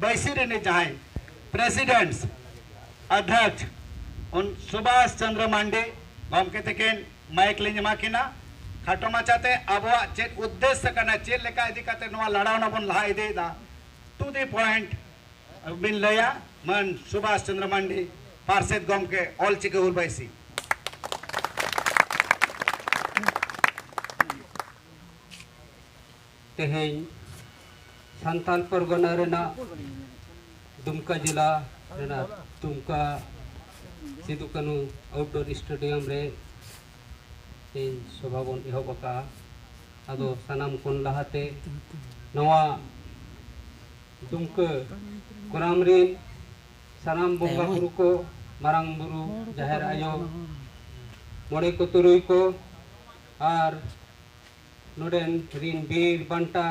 ᱵᱟᱹᱭᱥᱤ ᱨᱤᱱᱤᱡ ᱡᱟᱦᱟᱸᱭ ᱯᱨᱮᱥᱤᱰᱮᱱᱴᱥ ᱟᱫᱷᱭᱟᱠᱥ ᱩᱱ ᱥᱩᱵᱷᱟᱥ ᱪᱚᱱᱫᱨᱚ ᱢᱟᱱᱰᱤ ᱜᱚᱢᱠᱮ ᱛᱤᱠᱤᱱ ᱢᱟᱭᱤᱠ ᱞᱤᱧ ᱮᱢᱟ ᱠᱤᱱᱟ ᱠᱷᱟᱴᱚ ᱢᱟᱪᱷᱟᱛᱮ ᱟᱵᱚᱣᱟᱜ ᱪᱮᱫ ᱩᱫᱽᱫᱮᱥᱥᱚ ᱠᱟᱱᱟ ᱪᱮᱫ ᱞᱮᱠᱟ ᱤᱫᱤ ᱠᱟᱛᱮ ᱱᱚᱣᱟ ᱞᱟᱲᱟᱣᱱᱟ ᱵᱚᱱ ᱞᱟᱦᱟ ᱤᱫᱤᱭᱮᱫᱟ ᱴᱩ ᱫᱤ ᱯᱚᱭᱮᱱᱴ ᱵᱤᱱ ᱞᱟᱹᱭᱟ ᱢᱟᱹᱱ ᱥᱩᱵᱷᱟᱥ ᱪᱚᱱᱫᱨᱚ ᱢᱟᱱᱰᱤ ᱯᱟᱨᱥᱮᱛ ᱜᱚᱢᱠᱮ ᱚᱞ ᱪᱤᱠᱤ ᱦᱩᱞ ᱵᱟᱹᱭᱥᱤ ᱛᱮᱦᱮᱧ ᱥᱟᱱᱛᱟᱞ ᱯᱚᱨᱜᱚᱱᱟ ᱨᱮᱱᱟᱜ ᱫᱩᱢᱠᱟ ᱡᱮᱞᱟ ᱨᱮᱱᱟᱜ ᱫᱩᱢᱠᱟ ᱥᱤᱫᱩ ᱠᱟᱹᱱᱩ ᱟᱣᱩᱴᱰᱳᱨ ᱥᱴᱮᱰᱤᱭᱟᱢ ᱨᱮ ᱛᱮᱦᱮᱧ ᱥᱚᱵᱷᱟ ᱵᱚᱱ ᱮᱦᱚᱵ ᱟᱠᱟᱜᱼᱟ ᱟᱫᱚ ᱥᱟᱱᱟᱢ ᱠᱷᱚᱱ ᱞᱟᱦᱟᱛᱮ ᱱᱚᱣᱟ ᱫᱩᱢᱠᱟᱹ ᱜᱨᱟᱢ ᱨᱮᱱ ᱥᱟᱱᱟᱢ ᱵᱚᱸᱜᱟ ᱵᱩᱨᱩ ᱠᱚ ᱢᱟᱨᱟᱝ ᱵᱩᱨᱩ ᱡᱟᱦᱮᱨ ᱟᱭᱳ ᱢᱚᱬᱮ ᱠᱚ ᱛᱩᱨᱩᱭ ᱠᱚ ᱟᱨ ᱱᱚᱰᱮᱱ ᱨᱤᱱ ᱵᱤᱨ ᱵᱟᱱᱴᱟ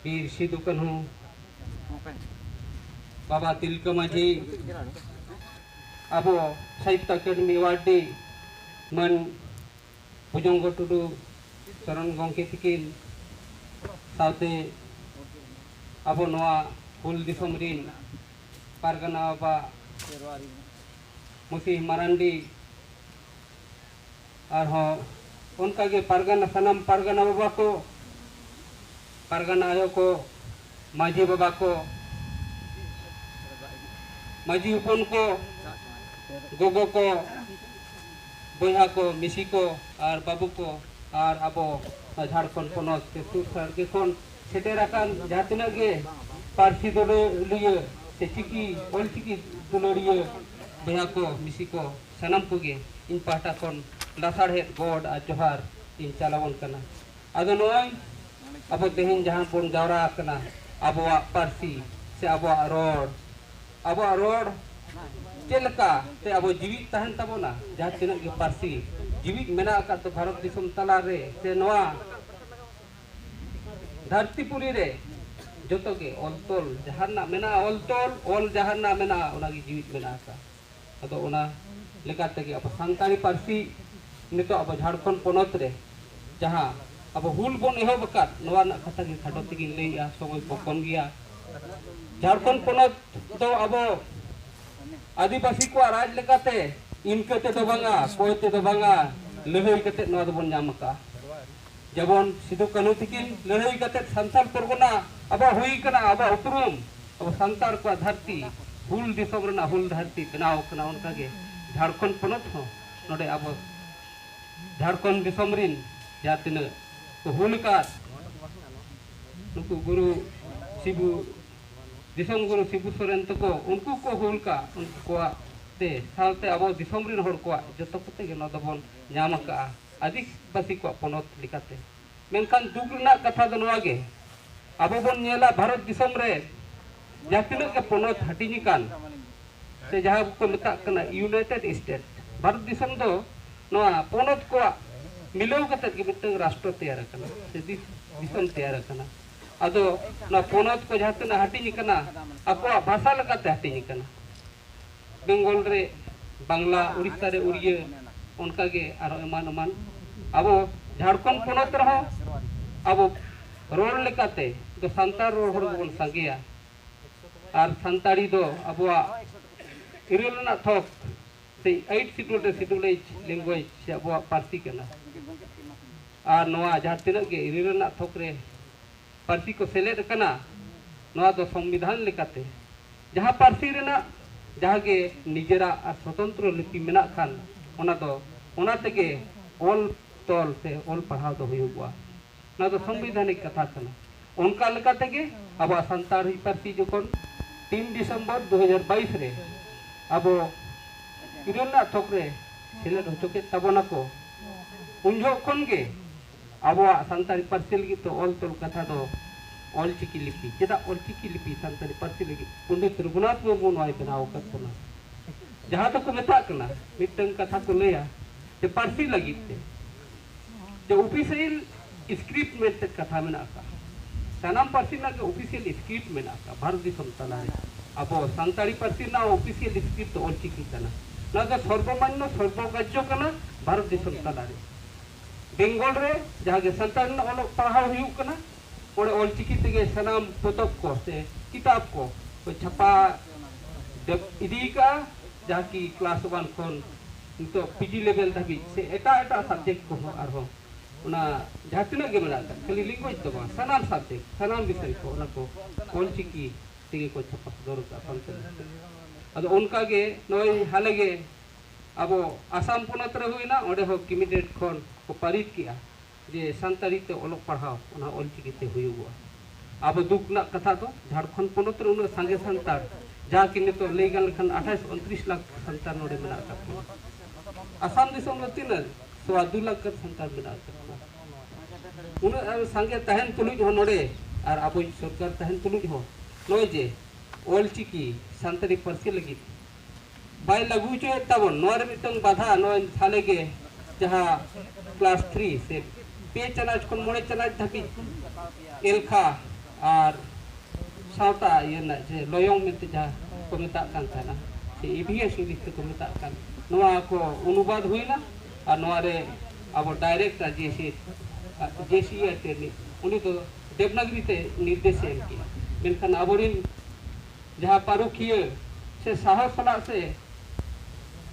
ᱵᱤᱨ ᱥᱤᱫᱩ ᱠᱟᱹᱱᱦᱩ ᱵᱟᱵᱟ ᱛᱤᱞᱠᱟᱹ ᱢᱟᱹᱡᱷᱤ ᱟᱵᱚ ᱥᱟᱦᱤᱛᱛᱚ ᱟᱠᱟᱰᱮᱢᱤ ᱣᱟᱨᱰᱤ ᱢᱟᱱ ᱵᱷᱩᱡᱚᱝᱜᱚ ᱴᱩᱰᱩ ᱥᱚᱨᱚᱱ ᱜᱚᱢᱠᱮ ᱛᱤᱠᱤᱱ ᱥᱟᱶᱛᱮ ᱟᱵᱚ ᱱᱚᱣᱟ ᱦᱩᱞ ᱫᱤᱥᱚᱢ ᱨᱤᱱ ᱯᱟᱨᱜᱟᱱᱟ ᱵᱟᱵᱟ ᱢᱩᱥᱤ ᱢᱟᱨᱟᱱᱰᱤ ᱟᱨᱦᱚᱸ ᱚᱱᱠᱟ ᱜᱮ ᱯᱟᱨᱜᱟᱱᱟ ᱥᱟᱱᱟᱢ ᱯᱟᱨᱜᱟᱱᱟ ᱵᱟᱵᱟ ᱠᱚ ᱯᱟᱨᱜᱟᱱᱟ ᱟᱭᱳ ᱠᱚ ᱢᱟᱹᱡᱷᱤ ᱵᱟᱵᱟ ᱠᱚ ᱢᱟᱹᱡᱷᱤ ᱦᱚᱯᱚᱱ ᱠᱚ ᱜᱚᱜᱚ ᱠᱚ ᱵᱚᱭᱦᱟ ᱠᱚ ᱢᱤᱥᱤ ᱠᱚ ᱟᱨ ᱵᱟᱹᱵᱩ ᱠᱚ ᱟᱨ ᱟᱵᱚ ᱡᱷᱟᱲᱠᱷᱚᱸᱰ ᱯᱚᱱᱚᱛ ᱥᱮ ᱥᱩᱨ ᱥᱟᱰᱜᱮ ᱠᱷᱚᱱ ᱥᱮᱴᱮᱨ ᱟᱠᱟᱱ ᱡᱟᱦᱟᱸ ᱛᱤᱱᱟᱹᱜ ᱜᱮ ᱯᱟᱹᱨᱥᱤ ᱫᱩᱞᱟᱹᱲᱤᱭᱟᱹ ᱥᱮ ᱪᱤᱠᱤ ᱚᱞᱪᱤᱠᱤ ᱫᱩᱞᱟᱹᱲᱤᱭᱟᱹ ᱵᱚᱭᱦᱟ ᱠᱚ ᱢᱤᱥᱤ ᱠᱚ ᱥᱟᱱᱟᱢ ᱠᱚᱜᱮ ᱤᱧ ᱯᱟᱦᱴᱟ ᱠᱷᱚᱱ ᱞᱟᱥᱟᱲᱦᱮᱫ ᱜᱚᱰ ᱟᱨ ᱡᱚᱦᱟᱨ ᱤᱧ ᱪᱟᱞᱟᱵᱚᱱ ᱠᱟᱱᱟ ᱟᱫᱚ ᱱᱚᱜᱼᱚᱭ ᱟᱵᱚ ᱛᱮᱦᱮᱧ ᱡᱟᱦᱟᱸ ᱵᱚᱱ ᱡᱟᱣᱨᱟ ᱟᱠᱟᱱᱟ ᱟᱵᱚᱣᱟᱜ ᱯᱟᱹᱨᱥᱤ ᱥᱮ ᱟᱵᱚᱣᱟᱜ ᱨᱚᱲ ᱟᱵᱚᱣᱟᱜ ᱨᱚᱲ ᱪᱮᱫ ᱞᱮᱠᱟ ᱛᱮ ᱟᱵᱚ ᱡᱤᱣᱤᱫ ᱛᱟᱦᱮᱱ ᱛᱟᱵᱚᱱᱟ ᱡᱟᱦᱟᱸ ᱛᱤᱱᱟᱹᱜ ᱜᱮ ᱯᱟᱹᱨᱥᱤ ᱡᱤᱣᱤᱫ ᱢᱮᱱᱟᱜ ᱟᱠᱟᱫ ᱫᱚ ᱵᱷᱟᱨᱚᱛ ᱫᱤᱥᱚᱢ ᱛᱟᱞᱟ ᱨᱮ ᱥᱮ ᱱᱚᱣᱟ ᱫᱷᱟᱹᱨᱛᱤ ᱯᱩᱨᱤ ᱨᱮ ᱡᱚᱛᱚ ᱜᱮ ᱚᱞ ᱛᱚᱞ ᱡᱟᱦᱟᱸ ᱨᱮᱱᱟᱜ ᱢᱮᱱᱟᱜᱼᱟ ᱚᱞ ᱛᱚᱞ ᱚᱞ ᱡᱟᱦᱟᱸ ᱨᱮᱱᱟᱜ ᱢᱮᱱᱟᱜᱼᱟ ᱚᱱᱟᱜᱮ ᱡᱤᱣᱤᱫ ᱢᱮᱱᱟᱜ ᱟᱠᱟᱫᱼᱟ ᱟᱫᱚ ᱚᱱᱟ ᱞᱮᱠᱟ ᱛᱮᱜᱮ ᱟᱵᱚ ᱥᱟᱱᱛᱟᱲᱤ ᱯᱟᱹᱨᱥᱤ ᱱᱤᱛᱚᱜ ᱟᱵᱚ ᱡᱷᱟᱲᱠᱷᱚᱸᱰ ᱯᱚᱱᱚᱛ ᱨᱮ ᱡᱟᱦᱟᱸ ᱟᱵᱚ ᱦᱩᱞ ᱵᱚᱱ ᱮᱦᱚᱵ ᱟᱠᱟᱫ ᱱᱚᱣᱟ ᱨᱮᱱᱟᱜ ᱠᱟᱛᱷᱟ ᱜᱮ ᱠᱷᱟᱴᱚ ᱛᱮᱜᱮᱧ ᱞᱟᱹᱭᱮᱜᱼᱟ ᱥᱚᱢᱚᱭ ᱠᱚ ᱠᱚᱢ ᱜᱮᱭᱟ ᱡᱷᱟᱲᱠᱷᱚᱸᱰ ᱯᱚᱱᱚᱛ ᱫᱚ ᱟᱵᱚ ᱟᱹᱫᱤᱵᱟᱹᱥᱤ ᱠᱚᱣᱟᱜ ᱨᱟᱡᱽ ᱞᱮᱠᱟᱛᱮ ᱤᱱᱠᱟᱹ ᱛᱮᱫᱚ ᱵᱟᱝᱟ ᱠᱚᱭ ᱛᱮᱫᱚ ᱵᱟᱝᱟ ᱞᱟᱹᱲᱦᱟᱹᱭ ᱠᱟᱛᱮᱫ ᱱᱚᱣᱟ ᱫᱚᱵᱚᱱ ᱧᱟᱢ ᱟᱠᱟᱫᱼᱟ ᱡᱮᱢᱚᱱ ᱥᱤᱫᱩ ᱠᱟᱹᱱᱦᱩ ᱛᱤᱠᱤᱱ ᱞᱟᱹᱲᱦᱟᱹᱭ ᱠᱟᱛᱮ ᱥᱟᱱᱛᱟᱲ ᱯᱚᱨᱜᱚᱱᱟ ᱟᱵᱚ ᱦᱩᱭ ᱠᱟᱱᱟ ᱟᱵᱚ ᱩᱯᱨᱩᱢ ᱟᱵᱚ ᱥᱟᱱᱛᱟᱲ ᱠᱚ ᱫᱷᱟᱹᱨᱛᱤ ᱦᱩᱞ ᱫᱤᱥᱚᱢ ᱨᱮᱱᱟᱜ ᱦᱩᱞ ᱫᱷᱟᱹᱨᱛᱤ ᱵᱮᱱᱟᱣ ᱠᱟᱱᱟ ᱚᱱᱠᱟ ᱜᱮ ᱡᱷᱟᱲᱠᱷᱚᱸᱰ ᱯᱚᱱᱚᱛ ᱦᱚᱸ ᱱᱚᱰᱮ ᱟᱵᱚ ᱡᱷᱟᱲᱠᱷᱚᱸᱰ ᱫᱤᱥᱚᱢ ᱨᱤᱱ ᱡᱟᱦᱟᱸ ᱛᱤᱱᱟᱹᱜ ᱠᱚ ᱦᱩᱞ ᱟᱠᱟᱫ ᱱᱩᱠᱩ ᱜᱩᱨᱩ ᱥᱤᱵᱩ ᱫᱤᱥᱚᱢ ᱜᱩᱨᱩ ᱥᱤᱵᱩ ᱥᱚᱨᱮᱱ ᱛᱟᱠᱚ ᱩᱱᱠᱩ ᱠᱚ ᱦᱩᱞ ᱠᱟᱜ ᱩᱱᱠᱩ ᱠᱚᱣᱟᱜ ᱛᱮ ᱥᱟᱶᱛᱮ ᱟᱵᱚ ᱫᱤᱥᱚᱢ ᱨᱤᱱ ᱦᱚᱲ ᱠᱚᱣᱟᱜ ᱡᱚᱛᱚ ᱠᱚᱛᱮ ᱜᱮ ᱱᱚᱣᱟ ᱫᱚᱵᱚᱱ ᱧᱟᱢ ᱟᱠᱟᱫᱼᱟ ᱟᱹᱫᱤᱵᱟᱹᱥᱤ ᱠᱚᱣᱟᱜ ᱯᱚᱱᱚᱛ ᱞᱮᱠᱟᱛᱮ᱾ ᱢᱮᱱᱠᱷᱟᱱ ᱫᱩᱠ ᱨᱮᱱᱟᱜ ᱠᱟᱛᱷᱟ ᱫᱚ ᱱᱚᱣᱟ ᱜᱮ ᱟᱵᱚ ᱵᱚᱱ ᱧᱮᱞᱟ ᱵᱷᱟᱨᱚᱛ ᱫᱤᱥᱚᱢ ᱨᱮ ᱡᱟᱦᱟᱸ ᱛᱤᱱᱟᱹᱜ ᱜᱮ ᱯᱚᱱᱚᱛ ᱦᱟᱹᱴᱤᱧ ᱟᱠᱟᱱ ᱥᱮ ᱡᱟᱦᱟᱸ ᱠᱚ ᱢᱮᱛᱟᱜ ᱠᱟᱱᱟ ᱭᱩᱱᱟᱭᱴᱮᱰ ᱥᱴᱮᱴ ᱵᱷᱟᱨᱚᱛ ᱫᱤᱥᱚᱢ ᱫᱚ ᱱᱚᱣᱟ ᱯᱚᱱᱚᱛ ᱠᱚᱣᱟᱜ ᱢᱤᱞᱟᱹᱣ ᱠᱟᱛᱮ ᱜᱮ ᱢᱤᱫᱴᱟᱝ ᱨᱟᱥᱴᱨᱚ ᱛᱮᱭᱟᱨ ᱟᱠᱟᱱᱟ ᱥᱮ ᱫᱤᱥᱚᱢ ᱛᱮᱭᱟᱨ ᱟᱠᱟᱱᱟ᱾ ᱟᱫᱚ ᱱᱚᱣᱟ ᱯᱚᱱᱚᱛ ᱠᱚ ᱡᱟᱦᱟᱸ ᱛᱤᱱᱟᱹᱜ ᱦᱟᱹᱴᱤᱧ ᱟᱠᱟᱱᱟ ᱟᱠᱚᱣᱟᱜ ᱵᱷᱟᱥᱟ ᱞᱮᱠᱟᱛᱮ ᱦᱟᱹᱴᱤᱧ ᱟᱠᱟᱱᱟ᱾ ᱵᱮᱝᱜᱚᱞ ᱨᱮ ᱵᱟᱝᱞᱟ ᱩᱲᱤᱥᱥᱟ ᱨᱮ ᱩᱲᱤᱭᱟᱹ ᱚᱱᱠᱟ ᱜᱮ ᱟᱨᱦᱚᱸ ᱮᱢᱟᱱ ᱮᱢᱟᱱ ᱟᱵᱚ ᱡᱷᱟᱲᱠᱷᱚᱸᱰ ᱯᱚᱱᱚᱛ ᱨᱮᱦᱚᱸ ᱟᱵᱚ ᱨᱚᱲ ᱞᱮᱠᱟᱛᱮ ᱫᱚ ᱥᱟᱱᱛᱟᱲ ᱨᱚᱲ ᱦᱚᱲ ᱜᱮᱵᱚᱱ ᱥᱟᱸᱜᱮᱭᱟ ᱟᱨ ᱥᱟᱱᱛᱟᱲᱤ ᱫᱚ ᱟᱵᱚᱣᱟᱜ ᱤᱨᱟᱹᱞ ᱨᱮᱱᱟᱜ ᱛᱷᱚᱠ ᱥᱮ ᱟᱭᱤᱴ ᱥᱤᱰᱩᱞ ᱨᱮ ᱥᱤᱰᱩᱞ ᱮᱡᱽ ᱞᱮᱝᱜᱩᱭᱮᱡᱽ ᱥᱮ ᱟᱵᱚᱣᱟᱜ ᱯᱟᱹᱨᱥᱤ ᱠᱟᱱᱟ ᱟᱨ ᱱᱚᱣᱟ ᱡᱟᱦᱟᱸ ᱛᱤᱱᱟᱹᱜ ᱜᱮ ᱤᱨᱟᱹᱞ ᱨᱮᱱᱟᱜ ᱛᱷᱚᱠ ᱨᱮ ᱯᱟᱹᱨᱥᱤ ᱠᱚ ᱥᱮᱞᱮᱫ ᱟᱠᱟᱱᱟ ᱱᱚᱣᱟ ᱫᱚ ᱥᱚᱝᱵᱤᱫᱷᱟᱱ ᱞᱮᱠᱟᱛᱮ ᱡᱟᱦᱟᱸ ᱯᱟᱹᱨᱥᱤ ᱨᱮᱱᱟᱜ ᱡᱟᱦᱟᱸ ᱜᱮ ᱱᱤᱡᱮᱨᱟᱜ ᱟᱨ ᱥᱚᱛᱚᱱᱛᱨᱚ ᱞᱤᱯᱤ ᱢᱮᱱᱟᱜ ᱠᱷᱟᱱ ᱚᱱᱟ ᱫᱚ ᱚᱱᱟ ᱛᱮᱜᱮ ᱚᱞ ᱛᱚᱞ ᱥᱮ ᱚᱞ ᱯᱟᱲᱦᱟᱣ ᱫᱚ ᱦᱩᱭᱩᱜᱼᱟ ᱱᱚᱣᱟ ᱫᱚ ᱥᱚᱝᱵᱤᱫᱷᱟᱱᱤᱠ ᱠᱟᱛᱷᱟ ᱠᱟᱱᱟ ᱚᱱᱠᱟ ᱞᱮᱠᱟ ᱛᱮᱜᱮ ᱟᱵᱚᱣᱟᱜ ᱥᱟᱱᱛᱟᱲᱤ ᱯᱟᱹᱨᱥᱤ ᱡᱚᱠᱷᱚᱱ ᱛᱤᱱ ᱰᱤᱥᱮᱢᱵᱚᱨ ᱫᱩ ᱦᱟᱡᱟᱨ ᱵᱟᱭᱤᱥ ᱨᱮ ᱟᱵᱚ ᱤᱨᱟᱹᱞ ᱨᱮᱱᱟᱜ ᱛᱷᱚᱠ ᱨᱮ ᱥᱮᱞᱮᱫ ᱦᱚᱪᱚ ᱠᱮᱫ ᱛᱟᱵᱚᱱᱟᱠᱚ ᱩᱱ ᱡᱚᱦᱚᱜ ᱠᱷᱚᱱ ᱜᱮ ᱟᱵᱚᱣᱟᱜ ᱥᱟᱱᱛᱟᱲᱤ ᱯᱟᱹᱨᱥᱤ ᱞᱟᱹᱜᱤᱫ ᱛᱮ ᱚᱞ ᱛᱚᱞ ᱠᱟᱛᱷᱟ ᱫᱚ ᱚᱞ ᱪᱤᱠᱤ ᱞᱤᱯᱤ ᱪᱮᱫᱟᱜ ᱚᱞ ᱪᱤᱠᱤ ᱞᱤᱯᱤ ᱥᱟᱱᱛᱟᱲᱤ ᱯᱟᱹᱨᱥᱤ ᱞᱟᱹᱜᱤᱫ ᱯᱚᱱᱰᱤᱛ ᱨᱚᱜᱷᱩᱱᱟᱛᱷ ᱢᱩᱨᱢᱩ ᱱᱚᱣᱟᱭ ᱵᱮᱱᱟᱣ ᱟᱠᱟᱫ ᱵᱚᱱᱟ ᱡᱟᱦᱟᱸ ᱫᱚᱠᱚ ᱢᱮᱛᱟᱜ ᱠᱟᱱᱟ ᱢᱤᱫᱴᱟᱝ ᱠᱟᱛᱷᱟ ᱠᱚ ᱞᱟᱹᱭᱟ ᱡᱮ ᱯᱟᱹᱨᱥᱤ ᱞᱟᱹᱜᱤᱫ ᱛᱮ ᱡᱮ ᱚᱯᱷᱤᱥᱤᱭᱟᱞ ᱥᱠᱨᱤᱯᱴ ᱢᱮᱱᱛᱮ ᱠᱟᱛᱷᱟ ᱢᱮᱱᱟᱜ ᱟᱠᱟᱫ ᱥᱟᱱᱟᱢ ᱯᱟᱹᱨᱥᱤ ᱨᱮᱱᱟᱜ ᱜᱮ ᱚᱯᱷᱤᱥᱤᱭᱟᱞ ᱥᱠᱨᱤᱯᱴ ᱢᱮᱱᱟᱜ ᱟᱠᱟᱫ ᱵᱷᱟᱨᱚᱛ ᱫᱤᱥᱚᱢ ᱛᱟᱞᱟᱨᱮ ᱟᱵᱚ ᱥᱟᱱᱛᱟᱲᱤ ᱯᱟᱹᱨᱥᱤ ᱨᱮᱱᱟᱜ ᱚᱯᱷᱤᱥᱤᱭᱟᱞ ᱥᱠᱨᱤᱯᱴ ᱫᱚ ᱚᱞ ᱪᱤᱠᱤ ᱠᱟᱱᱟ ᱱᱚᱣᱟ ᱫᱚ ᱥᱚᱨᱵᱚᱢᱟᱱᱱᱚ ᱥᱚᱨᱵᱚᱜᱨᱟᱡᱽᱭᱚ ᱠᱟᱱᱟ ᱵᱷᱟᱨᱚᱛ ᱫᱤᱥᱚᱢ ᱛᱟᱞᱟᱨᱮ ᱵᱮᱝᱜᱚᱞ ᱨᱮ ᱡᱟᱦᱟᱸ ᱜᱮ ᱥᱟᱱᱛᱟᱲᱤ ᱨᱮᱱᱟᱜ ᱚᱞᱚᱜ ᱯᱟᱲᱦᱟᱣ ᱦᱩᱭᱩᱜ ᱠᱟᱱᱟ ᱚᱸᱰᱮ ᱚᱞ ᱪᱤᱠᱤ ᱛᱮᱜᱮ ᱥᱟᱱᱟᱢ ᱯᱚᱛᱚᱵ ᱠᱚ ᱥᱮ ᱠᱤᱛᱟᱵ ᱠᱚ ᱠᱚ ᱪᱷᱟᱯᱟ ᱤᱫᱤ ᱟᱠᱟᱫᱼᱟ ᱡᱟᱦᱟᱸ ᱠᱤ ᱠᱞᱟᱥ ᱳᱣᱟᱱ ᱠᱷᱚᱱ ᱱᱤᱛᱚᱜ ᱯᱤᱡᱤ ᱞᱮᱵᱮᱞ ᱫᱷᱟᱹᱵᱤᱡ ᱥᱮ ᱮᱴᱟᱜ ᱮᱴᱟᱜ ᱥᱟᱵᱡᱮᱠᱴ ᱠᱚᱦᱚᱸ ᱟᱨᱦᱚᱸ ᱚᱱᱟ ᱡᱟᱦᱟᱸ ᱛᱤᱱᱟᱹᱜ ᱜᱮ ᱢᱮᱱᱟᱜ ᱟᱠᱟᱫ ᱠᱷᱟᱹᱞᱤ ᱞᱮᱝᱜᱩᱭᱮᱡᱽ ᱫᱚ ᱵᱟᱝ ᱥᱟᱱᱟᱢ ᱥᱟᱵᱡᱮᱠᱴ ᱥᱟᱱᱟᱢ ᱵᱤᱥᱚᱭ ᱠᱚ ᱚᱱᱟ ᱠᱚ ᱚᱞ ᱪᱤᱠᱤ ᱛᱮᱜᱮ ᱠᱚ ᱪᱷᱟᱯᱟ ᱥᱚᱫᱚᱨ ᱟᱠᱟᱫᱼᱟ ᱥᱟᱱᱛᱟᱲᱤ ᱛᱮ ᱟᱫᱚ ᱚᱱᱠᱟᱜᱮ ᱱᱚᱜᱼᱚᱭ ᱦᱟᱞᱮᱜᱮ ᱟᱵᱚ ᱟᱥᱟᱢ ᱯᱚᱱᱚᱛ ᱨᱮ ᱦᱩᱭᱱᱟ ᱚᱸᱰᱮ ᱦᱚᱸ ᱠᱤᱢᱤᱰᱮᱴ ᱠᱷᱚᱱ ᱠᱚ ᱯᱟᱹᱨᱤᱛ ᱠᱮᱜᱼᱟ ᱡᱮ ᱥᱟᱱᱛᱟᱲᱤ ᱛᱮ ᱚᱞᱚᱜ ᱯᱟᱲᱦᱟᱣ ᱚᱱᱟ ᱚᱞ ᱪᱤᱠᱤ ᱛᱮ ᱦᱩᱭᱩᱜᱚᱜᱼᱟ ᱟᱵᱚ ᱫᱩᱠ ᱨᱮᱱᱟᱜ ᱠᱟᱛᱷᱟ ᱫᱚ ᱡᱷᱟᱲᱠᱷᱚᱸᱰ ᱯᱚᱱᱚᱛ ᱨᱮ ᱩᱱᱟᱹᱜ ᱥᱟᱸᱜᱮ ᱥᱟᱱᱛᱟᱲ ᱡᱟᱦᱟᱸ ᱠᱤ ᱱᱤᱛᱚᱜ ᱞᱟᱹᱭ ᱜᱟᱱ ᱞᱮᱠᱷᱟᱱ ᱟᱴᱷᱟᱥ ᱩᱱᱛᱨᱤᱥ ᱞᱟᱠᱷ ᱥᱟᱱᱛᱟᱲ ᱱᱚᱰᱮ ᱢᱮᱱᱟᱜ ᱟᱠᱟᱫ ᱵᱚᱱᱟ ᱟᱥᱟᱢ ᱫᱤᱥᱚᱢ ᱨᱮ ᱛᱤᱱᱟᱹᱜ ᱥᱚᱣᱟ ᱫᱩ ᱞᱟᱠᱷ ᱜᱟᱱ ᱥᱟᱱᱛᱟᱲ ᱢᱮᱱᱟᱜ ᱟᱠᱟᱫ ᱵᱚᱱᱟ ᱩᱱᱟᱹᱜ ᱥᱟᱸᱜᱮ ᱛᱟᱦᱮᱱ ᱛᱩᱞᱩᱡ ᱦᱚᱸ ᱱᱚᱰᱮ ᱟᱨ ᱟᱵᱚᱭᱤᱡ ᱥᱚᱨᱠᱟᱨ ᱛᱟᱦᱮᱱ ᱛᱩᱞᱩᱡ ᱦᱚᱸ ᱱᱚᱜᱼᱚᱭ ᱡᱮ ᱚᱞ ᱪᱤᱠᱤ ᱥᱟᱱᱛᱟᱲᱤ ᱯᱟᱹᱨᱥᱤ ᱞᱟᱹᱜᱤᱫ ᱵᱟᱭ ᱞᱟᱹᱜᱩ ᱦᱚᱪᱚᱭᱮᱫ ᱛᱟᱵᱚᱱ ᱱᱚᱣᱟ ᱨᱮ ᱢᱤᱫᱴᱟᱝ ᱵᱟᱫᱷᱟ ᱱᱚᱜᱼᱚᱭ ᱦᱟᱞᱮ ᱜᱮ ᱡᱟᱦᱟᱸ ᱠᱞᱟᱥ ᱛᱷᱨᱤ ᱥᱮ ᱯᱮ ᱪᱟᱱᱟᱪ ᱠᱷᱚᱱ ᱢᱚᱬᱮ ᱪᱟᱱᱟᱪ ᱫᱷᱟᱹᱵᱤᱡ ᱮᱞᱠᱷᱟ ᱟᱨ ᱥᱟᱶᱛᱟ ᱤᱭᱟᱹ ᱨᱮᱱᱟᱜ ᱡᱮ ᱞᱚᱭᱚᱝ ᱢᱮᱱᱛᱮ ᱡᱟᱦᱟᱸ ᱠᱚ ᱢᱮᱛᱟᱜ ᱠᱟᱱ ᱛᱟᱦᱮᱱᱟ ᱥᱮ ᱤᱵᱷᱤᱮᱥ ᱤᱝᱞᱤᱥ ᱛᱮᱠᱚ ᱢᱮᱛᱟᱜ ᱠᱟᱱ ᱱᱚᱣᱟ ᱠᱚ ᱚᱱᱩᱵᱟᱫ ᱦᱩᱭᱱᱟ ᱟᱨ ᱱᱚᱣᱟ ᱨᱮ ᱟᱵᱚ ᱰᱟᱭᱨᱮᱠᱴ ᱟᱨ ᱡᱮᱥᱮ ᱡᱮᱥᱤ ᱟᱨ ᱴᱨᱮᱱᱤᱝ ᱩᱱᱤ ᱫᱚ ᱫᱮᱵᱽᱱᱟᱜᱽᱨᱤ ᱛᱮ ᱱᱤᱨᱫᱮᱥ ᱮᱢ ᱠᱮᱜᱼᱟ ᱢᱮᱱᱠᱷᱟᱱ ᱟᱵᱚᱨᱮᱱ ᱡᱟᱦᱟᱸ ᱯᱟᱹᱨᱩᱠᱷᱤᱭᱟᱹ ᱥᱮ ᱥᱟᱦᱚᱥ ᱥᱟᱞᱟᱜ ᱥᱮ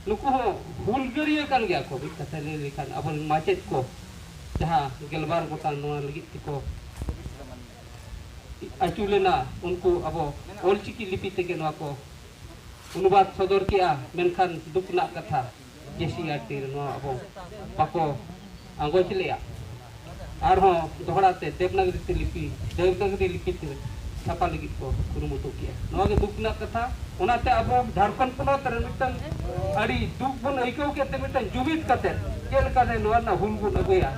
ᱱᱩᱠᱩ ᱦᱚᱸ ᱦᱩᱞᱜᱟᱹᱨᱤᱭᱟᱹ ᱠᱟᱱ ᱜᱮᱭᱟ ᱠᱚ ᱢᱤᱫ ᱠᱟᱛᱷᱟ ᱞᱟᱹᱭ ᱞᱮᱠᱷᱟᱱ ᱟᱵᱚᱨᱮᱱ ᱢᱟᱪᱮᱫ ᱠᱚ ᱡᱟᱦᱟᱸ ᱜᱮᱞᱵᱟᱨ ᱜᱚᱴᱟᱝ ᱱᱚᱣᱟ ᱞᱟᱹᱜᱤᱫ ᱛᱮᱠᱚ ᱟᱹᱪᱩ ᱞᱮᱱᱟ ᱩᱱᱠᱩ ᱟᱵᱚ ᱚᱞᱪᱤᱠᱤ ᱞᱤᱯᱤ ᱛᱮᱜᱮ ᱱᱚᱣᱟ ᱠᱚ ᱚᱱᱩᱵᱟᱫᱽ ᱥᱚᱫᱚᱨ ᱠᱮᱜᱼᱟ ᱢᱮᱱᱠᱷᱟᱱ ᱫᱩᱠ ᱨᱮᱱᱟᱜ ᱠᱟᱛᱷᱟ ᱠᱤᱥᱤ ᱟᱨ ᱛᱤᱨ ᱱᱚᱣᱟ ᱟᱵᱚ ᱵᱟᱠᱚ ᱟᱸᱜᱚᱪ ᱞᱮᱜᱼᱟ ᱟᱨᱦᱚᱸ ᱫᱚᱦᱲᱟ ᱛᱮ ᱫᱮᱵᱽᱱᱟᱜᱽᱨᱤ ᱛᱮ ᱞᱤᱯᱤ ᱫᱮᱵᱽᱱᱟᱜᱽᱨᱤ ᱞᱤᱯᱤ ᱛᱮ ᱪᱷᱟᱯᱟ ᱞᱟᱹᱜᱤᱫ ᱠᱚ ᱠᱩᱨᱩᱢᱩᱴᱩ ᱠᱮᱜᱼᱟ ᱱᱚᱣᱟ ᱜᱮ ᱫᱩᱠ ᱨᱮᱱᱟᱜ ᱠᱟᱛᱷᱟ ᱚᱱᱟᱛᱮ ᱟᱵᱚ ᱡᱷᱟᱲᱠᱷᱚᱸᱰ ᱯᱚᱱᱚᱛ ᱨᱮ ᱢᱤᱫᱴᱟᱝ ᱟᱹᱰᱤ ᱫᱩᱠ ᱵᱚᱱ ᱟᱹᱭᱠᱟᱹᱣ ᱠᱮᱫ ᱛᱮ ᱢᱤᱫᱴᱟᱝ ᱡᱩᱢᱤᱫ ᱠᱟᱛᱮ ᱪᱮᱫ ᱞᱮᱠᱟᱛᱮ ᱱᱚᱣᱟ ᱨᱮᱱᱟᱜ ᱦᱩᱞ ᱵᱚᱱ ᱟᱹᱜᱩᱭᱟ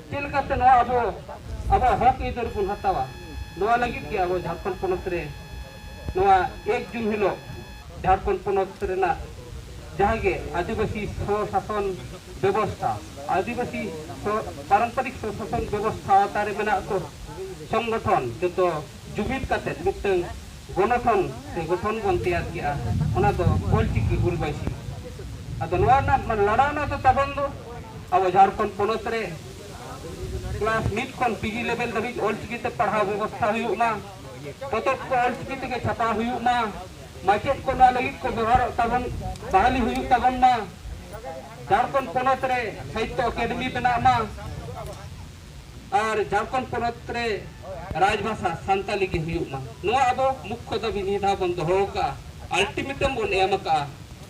ᱪᱮᱫ ᱞᱮᱠᱟᱛᱮ ᱱᱚᱣᱟ ᱟᱵᱚ ᱟᱵᱚᱣᱟᱜ ᱦᱚᱠ ᱟᱹᱭᱫᱟᱹᱨ ᱵᱚᱱ ᱦᱟᱛᱟᱣᱟ ᱱᱚᱣᱟ ᱞᱟᱹᱜᱤᱫ ᱜᱮ ᱟᱵᱚ ᱡᱷᱟᱲᱠᱷᱚᱸᱰ ᱯᱚᱱᱚᱛ ᱨᱮ ᱱᱚᱣᱟ ᱮᱠ ᱡᱩᱱ ᱦᱤᱞᱳᱜ ᱡᱷᱟᱲᱠᱷᱚᱸᱰ ᱯᱚᱱᱚᱛ ᱨᱮᱱᱟᱜ ᱡᱟᱦᱟᱸ ᱜᱮ ᱟᱹᱫᱤᱵᱟᱹᱥᱤ ᱥᱚ-ᱥᱟᱥᱚᱱ ᱵᱮᱵᱚᱥᱛᱷᱟ ᱟᱹᱫᱤᱵᱟᱹᱥᱤ ᱯᱟᱨᱚᱢᱯᱚᱨᱤᱠ ᱥᱚ-ᱥᱟᱥᱚᱱ ᱵᱮᱵᱚᱥᱛᱷᱟ ᱟᱣᱛᱟ ᱨᱮ ᱢᱮᱱᱟᱜ ᱠᱚ ᱥᱚᱝᱜᱚᱴᱷᱚᱱ ᱡᱚᱛᱚ ᱡᱩᱢᱤᱫ ᱠᱟᱛᱮ ᱢᱤᱫᱴᱟᱝ ᱜᱚᱱᱚᱴᱷᱚᱱ ᱥᱮ ᱜᱚᱴᱷᱚᱱ ᱵᱚᱱ ᱛᱮᱭᱟᱨ ᱠᱮᱜᱼᱟ ᱚᱱᱟ ᱫᱚ ᱚᱞᱪᱤᱠᱤ ᱦᱩᱞ ᱵᱟᱹᱭᱥᱤ ᱟᱫᱚ ᱱᱚᱣᱟ ᱨᱮᱱᱟᱜ ᱞᱟᱲᱟᱣᱱᱟ ᱫᱚ ᱛᱟᱵᱚᱱ ᱫᱚ ᱟᱵᱚ ᱡᱷᱟᱲᱠᱷᱚᱸᱰ ᱯᱚᱱᱚᱛ ᱨᱮ ᱠᱞᱟᱥ ᱢᱤᱫ ᱠᱷᱚᱱ ᱯᱤᱡᱤ ᱞᱮᱵᱮᱞ ᱫᱷᱟᱹᱵᱤᱡ ᱚᱞᱪᱤᱠᱤ ᱛᱮ ᱯᱟᱲᱦᱟᱣ ᱵᱮᱵᱚᱥᱛᱷᱟ ᱦᱩᱭᱩᱜ ᱢᱟ ᱯᱚᱛᱚᱵ ᱠᱚ ᱚᱞᱪᱤᱠᱤ ᱛᱮᱜᱮ ᱪᱷᱟᱯᱟ ᱦᱩᱭᱩᱜ ᱢᱟ ᱢᱟᱪᱮᱫ ᱠᱚ ᱱᱚᱣᱟ ᱞᱟᱹᱜᱤᱫ ᱠᱚ ᱵᱮᱵᱚᱦᱟᱨᱚᱜ ᱛᱟᱵᱚᱱ ᱵᱟᱦᱟᱞᱤ ᱦᱩᱭᱩᱜ ᱛᱟᱵᱚᱱ ᱢᱟ ᱡᱷᱟᱲᱠᱷᱚᱸᱰ ᱯᱚᱱᱚᱛ ᱨᱮ ᱥᱟᱦᱤᱛᱭᱚ ᱟᱠᱟᱫᱮᱢᱤ ᱵᱮᱱᱟᱜ ᱢᱟ ᱟᱨ ᱡᱷᱟᱲᱠᱷᱚᱸᱰ ᱯᱚᱱᱚᱛ ᱨᱮ ᱨᱟᱡᱽᱵᱷᱟᱥᱟ ᱥᱟᱱᱛᱟᱞᱤ ᱜᱮ ᱦᱩᱭᱩᱜ ᱢᱟ ᱱᱚᱣᱟ ᱟᱵᱚ ᱢᱩᱠᱷᱭᱚ ᱫᱟᱹᱵᱤ ᱱᱤᱭᱟᱹ ᱫᱷᱟᱣ ᱵᱚᱱ ᱫᱚᱦᱚ ᱟᱠᱟᱫᱼᱟ ᱟᱞᱴᱤᱢᱮᱴᱟᱢ ᱵᱚᱱ ᱮᱢ ᱟᱠᱟᱫᱼᱟ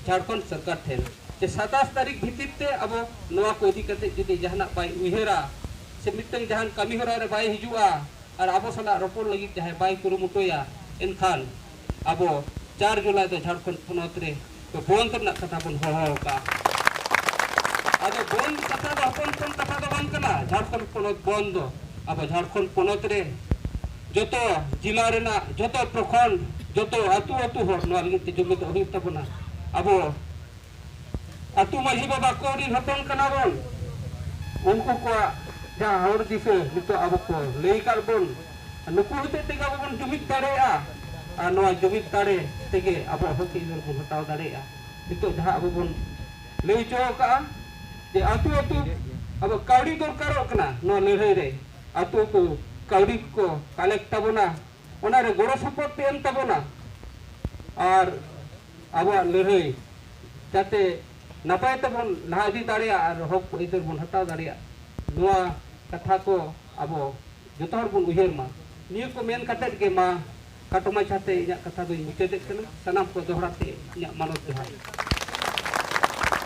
ᱡᱷᱟᱲᱠᱷᱚᱸᱰ ᱥᱚᱨᱠᱟᱨ ᱴᱷᱮᱱ ᱡᱮ ᱥᱟᱛᱟᱥ ᱛᱟᱹᱨᱤᱠᱷ ᱵᱷᱤᱛᱤᱨ ᱛᱮ ᱟᱵᱚ ᱱᱚᱣᱟ ᱠᱚ ᱤᱫᱤ ᱠᱟᱛᱮ ᱡᱩᱫᱤ ᱡᱟᱦᱟᱱᱟᱜ ᱵᱟᱭ ᱩᱭᱦᱟᱹᱨᱟ ᱥᱮ ᱢᱤᱫᱴᱟᱝ ᱡᱟᱦᱟᱱ ᱠᱟᱹᱢᱤ ᱦᱚᱨᱟ ᱨᱮ ᱵᱟᱭ ᱦᱤᱡᱩᱜᱼᱟ ᱟᱨ ᱟᱵᱚ ᱥᱟᱞᱟᱜ ᱨᱚᱯᱚᱲ ᱞᱟᱹᱜᱤᱫ ᱡᱟᱦᱟᱸᱭ ᱵᱟᱭ ᱠᱩᱨᱩᱢᱩᱴᱩᱭᱟ ᱮᱱᱠᱷᱟᱱ ᱟᱵᱚ ᱪᱟᱨ ᱡᱩᱞᱟᱭ ᱫᱚ ᱡᱷᱟᱲᱠᱷᱚᱸᱰ ᱯᱚᱱᱚᱛ ᱨᱮ ᱫᱚ ᱵᱚᱸᱫᱽ ᱨᱮᱱᱟᱜ ᱠᱟᱛᱷᱟ ᱵᱚᱱ ᱦᱚᱦᱚ ᱟᱠᱟᱫᱼᱟ ᱟᱫᱚ ᱵᱚᱸᱫᱽ ᱠᱟᱛᱷᱟ ᱫᱚ ᱦᱚᱯᱚᱱ ᱦᱚᱯᱚᱱ ᱠᱟᱛᱷᱟ ᱫᱚ ᱵᱟᱝ ᱠᱟᱱᱟ ᱡᱷᱟᱲᱠᱷᱚᱸᱰ ᱯᱚᱱᱚᱛ ᱵᱚᱸᱫᱽ ᱫᱚ ᱟᱵᱚ ᱡᱷᱟᱲᱠᱷᱚᱸᱰ ᱯᱚᱱᱚᱛ ᱨᱮ ᱡᱚᱛᱚ ᱡᱮᱞᱟ ᱨᱮᱱᱟᱜ ᱡᱚᱛᱚ ᱯᱨᱚᱠᱷᱚᱸᱰ ᱡᱚᱛᱚ ᱟᱹᱛᱩ ᱟᱹᱛᱩ ᱦᱚᱲ ᱱᱚᱣᱟ ᱞᱟᱹᱜᱤᱫ ᱛᱮ ᱡᱩᱢᱤᱫᱚᱜ ᱦᱩᱭᱩᱜ ᱛᱟᱵᱚᱱᱟ ᱟᱵᱚ ᱟᱹᱛᱩ ᱢᱟᱹᱡᱷᱤ ᱵᱟᱵᱟ ᱠᱚ ᱨᱤᱱ ᱦᱚᱯᱚᱱ ᱠᱟᱱᱟ ᱵᱚᱱ ᱩᱱᱠᱩ ᱠᱚᱣᱟᱜ ᱡᱟᱦᱟᱸ ᱦᱚᱨ ᱫᱤᱥᱟᱹ ᱱᱤᱛᱚᱜ ᱟᱵᱚ ᱠᱚ ᱞᱟᱹᱭ ᱟᱠᱟᱫ ᱵᱚᱱ ᱱᱩᱠᱩ ᱦᱚᱛᱮᱡ ᱛᱮᱜᱮ ᱟᱵᱚ ᱵᱚᱱ ᱡᱩᱢᱤᱫ ᱫᱟᱲᱮᱭᱟᱜᱼᱟ ᱟᱨ ᱱᱚᱣᱟ ᱡᱩᱢᱤᱫ ᱫᱟᱲᱮ ᱛᱮᱜᱮ ᱟᱵᱚᱣᱟᱜ ᱦᱚᱠ ᱟᱹᱭᱫᱟᱹᱨ ᱵᱚᱱ ᱦᱟᱛᱟᱣ ᱫᱟᱲᱮᱭᱟᱜᱼᱟ ᱱᱤᱛᱚᱜ ᱡᱟᱦᱟᱸ ᱟᱵᱚ ᱵᱚᱱ ᱞᱟᱹᱭ ᱦᱚᱪᱚ ᱟᱠᱟᱫᱼᱟ ᱡᱮ ᱟᱹᱛᱩ ᱟᱹᱛᱩ ᱟᱵᱚ ᱠᱟᱹᱣᱰᱤ ᱫᱚᱨᱠᱟᱨᱚᱜ ᱠᱟᱱᱟ ᱱᱚᱣᱟ ᱞᱟᱹᱲᱦᱟᱹᱭ ᱨᱮ ᱟᱹᱛᱩ ᱟᱹᱛᱩ ᱠᱟᱹᱣᱰᱤ ᱠᱚ ᱠᱟᱞᱮᱠᱴ ᱛᱟᱵᱚᱱᱟ ᱚᱱᱟᱨᱮ ᱜᱚᱲᱚ ᱥᱚᱯᱚᱦᱚᱫ ᱯᱮ ᱮᱢ ᱛᱟᱵᱚᱱᱟ ᱟᱨ ᱟᱵᱚᱣᱟᱜ ᱞᱟᱹᱲᱦᱟᱹᱭ ᱡᱟᱛᱮ ᱱᱟᱯᱟᱭ ᱛᱮᱵᱚᱱ ᱞᱟᱦᱟ ᱤᱫᱤ ᱫᱟᱲᱮᱭᱟᱜ ᱟᱨ ᱦᱚᱠ ᱟᱹᱭᱫᱟᱹᱨ ᱵᱚᱱ ᱦᱟᱛᱟᱣ ᱫᱟᱲᱮᱭᱟᱜ ᱱᱚᱣᱟ ᱠᱟᱛᱷᱟ ᱠᱚ ᱟᱵᱚ ᱡᱚᱛᱚ ᱦᱚᱲ ᱵᱚᱱ ᱩᱭᱦᱟᱹᱨ ᱢᱟ ᱱᱤᱭᱟᱹ ᱠᱚ ᱢᱮᱱ ᱠᱟᱛᱮ ᱜᱮ ᱢᱟ ᱠᱟᱴᱚ ᱢᱟᱪᱷᱟ ᱛᱮ ᱤᱧᱟᱹᱜ ᱠᱟᱛᱷᱟ ᱫᱚᱧ ᱢᱩᱪᱟᱹᱫᱮᱫ ᱠᱟᱱᱟ ᱥᱟᱱᱟᱢ ᱠᱚ ᱫᱚᱦᱲᱟ ᱛᱮ ᱤᱧᱟᱹᱜ ᱢᱟᱱᱚᱛ ᱡᱚᱦᱟᱨ